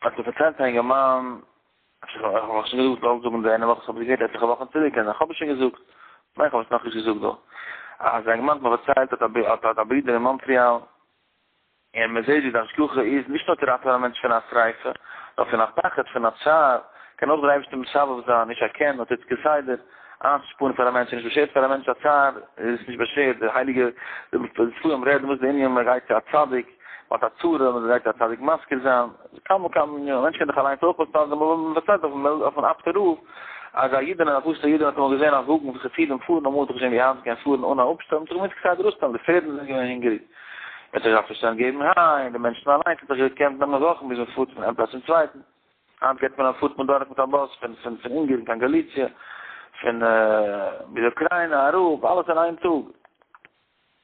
האט זיך פארציילט א אינגערמאן, איך האב נאך שוין געזאגט זאלסט זאגן די יענע וואך, איך האב געהערט עטליכע וואכן צוריק און איך האב עס שוין געזאגט, מיין איך האב עס נאכנישט געזאגט דא, אז א אינגערמאן האט מיר פארציילט אז ער האט א ברודער אין מאנטריאל, און מען זעט ווי די השגחה איז נישט נאר צו ראטעווען א מענטש פון א שריפה, נאר פון א פחד, פון א צער, קען אויך דער אייבערשטער מסבב זיין, נישט א קען, נאר טוט כסדר, איינצושפארן פאר א מענטש, נישט באשערט פאר א מענטש א צער, איז נישט באשערט, די הייליגע, די ספרים רעדן וואס די ענין מען גייט צו א צדיק, מען האט א צרה, מען דארף א צדיק מזכיר זיין, כמה וכמה ענינים, א מענטש קען דאך אליינס אויך וואס טון, דערמאל ווען מען דערציילט אויפן אפטע רוף, אז א אידענע, א פשוטע אידענע האט אמאל געזען א וואגן וואס חסידים פארן, אמאל האט ער געזען ווי היינט קען פארן אן א אפשטעל, מען האט זיך געמוזט כסדר אויסשטעלן, די פערדן זענען געווען הונגעריג, מען האט זיך געדארפט אויסשטעלן געבן היי, און די מענטשן אליינס האט זיך געקענט נעמען וואכן ביז מען פארט פון איין פלאץ צום צווייטן, היינט גייט מען און פארט מען דורך מיט א באס פון פון פון אונגערן קיין גאליציע, פון ביז אוקריינא אראפ, אלעס אין איין טאג.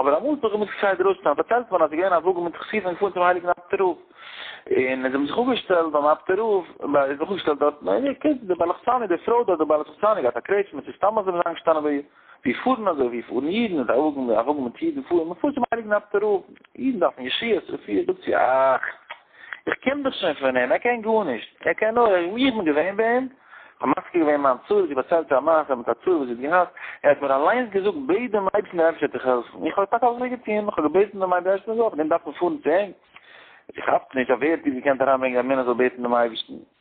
אבער אמאל האט מען געמוזט געשיידט דרויסן, פארציילט מען אז ס'איז געווען א וואגן מיט חסידים געפארן צום הייליגן אפטער רב, און זיי האבן זיך אפגעשטעלט ביים אפטער רב, ביי איז זיך אפגעשטעלט דארטן, און איר קענט די בעל לחצני, די פרוי דארט, די בעל לחצני האט געהאט א קרעטשמע, צו סתם אזוי זיין געשטאנען ביי איר, ווי פארן אזוי, ווי פארן אידן, מיט א וואגן, א וואגן מיט אידן פארן, מ'פארט צום הייליגן אפטער רב, אידן דארפן ישועות, רפואות, זאגט זי, אך! איך קען דאס שוין פון אים, ער קען גארנישט, ער קען נאר, איך בין געווען ביי אים, כ'האב מזכיר געווען מיין צרה, זי האט דערציילט א מעשה מיט א צרה וואס זי האט געהאט, ער האט מיר אליינס געזאגט, בעט דעם אייבערשטן דער אייבערשטער וועט דיך העלפן, איך האב טאקע אזוי געטון, איך האב געבעטן דעם אייבערשטן אזוי, אבער דען דארף מען פארן צו אים? איך כאפ נישט, אויף ווער האט איר געקענט אריינברענגען אז מענער זאל בעטן דעם אייבערשטן?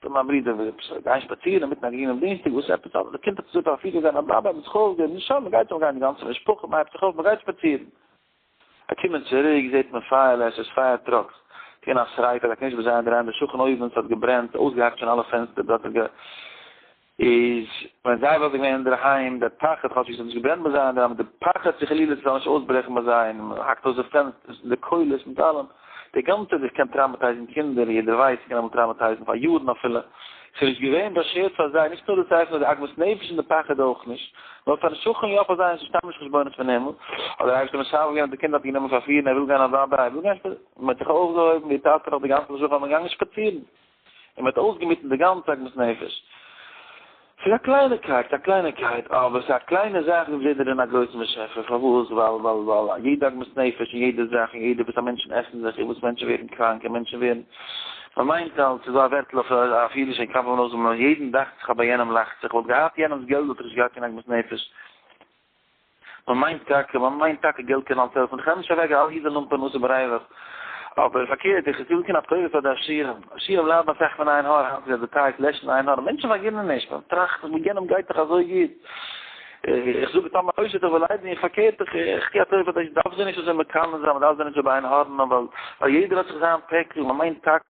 טא מיין ברודער וויל עפעס גיין שפאצירן אינמיטן א גרינעם דינסטאג וואס עפעס אדער די קינד האט עס געזאגט אז אפי' געזען א באבע מיט חלדער נישט שאדן מ'גייט אן גיין די גאנצע משפחה מ'הייבט זיך אויף מ'גייט שפאצירן א קומען צוריק זעהט מען פייער עס איז פייער טראקס געווען א שריפה א קנישבער זיי אינדערהיים די שכן אויבן ס'האט געברענט אויסגעהאקט שוין אלע פענסטער דארט איז גע. איז ווען זיי וואלט געווען אינדערהיים דער פחד כאטש ווי עס האט נישט געברענט ביי זיי אינדערהיים די פחד צו חלילה ס'זאל נישט אויסברעכן ביי זיי און מען האקט אויס די פענסטערס און די קולות מיט אלעם די גאנצע דאס קען טראמעטייזן קינדער יעדער ווייסט ס'קען אמאל טראמעטייזן פאר יארן אפילו ס'איז נישט געווען באשערט פאר זיי נישט נאר דאס אייך נאר די עגמת נפש און די פחד אויך נישט נאר פארן שכן יא פאר זיי איז סתם נישט חשבונות פון הימל האט דער אייבערשטער משחרר געווען די קינד האט גענומען פארפירן ער וויל גיין אוודאי ער וויל גיין שפאצירן מען האט זיך אויפגעהויבן די טאטע האט די גאנצע משפחה האבן געגאנגען שפאצירן און מען האט אויסגעמיטן די גאנצע עגמת נפש. ס'איז א קלייניקייט, א קלייניקייט, אבער ס'איז א קליינע זאך און זעט דערין א גרויסן באשעפער, פארוואס? ווייל, ווייל, ווייל א יעדע עגמת נפש און יעדע זאך און יעדע וואס א מענטשן עסן זיך און וואס מענטשן ווערן קראנק און מענטשן ווערן, מען מיינט אלץ, ס'איז דא א ווערטל אויף אויף אידיש און כ'דארף עמען אויסמאלן, יעדן דאכט זיך אבער יענעם לאכט זיך, וואלט געהאט יענעמ'ס געלט וואלט ער נישט געהאט קיין עגמת נפש. מען מיינט טאקע, מען מיינט טאקע געלט קען אלס העלפן, איך נעם נישט אוועק אל יעדע לומפערן וואס ער בארייוועכט, אבער פארקערט איך זיך אן א טובה פאר די עשירים, עשירים ליידן אסאך פון עין הרע, היינט איז עס די טייג, לעשן עין הרע, מענטשן פארגינען נישט, מען טראכט זיך מיט יענעם גייט דאך אזוי גוט, איך זאג טאמער טויש איך דיך וועל ליידן איך, פארקערט איך איך טו א טובה פאר די עשירים, מען דארף זיי נישט אזוי מקנא זיין, מען דארף זיי נישט אזוי באעין הארען, ווייל יעדער האט זיך זיין פעקל, מען מיינט טאקע.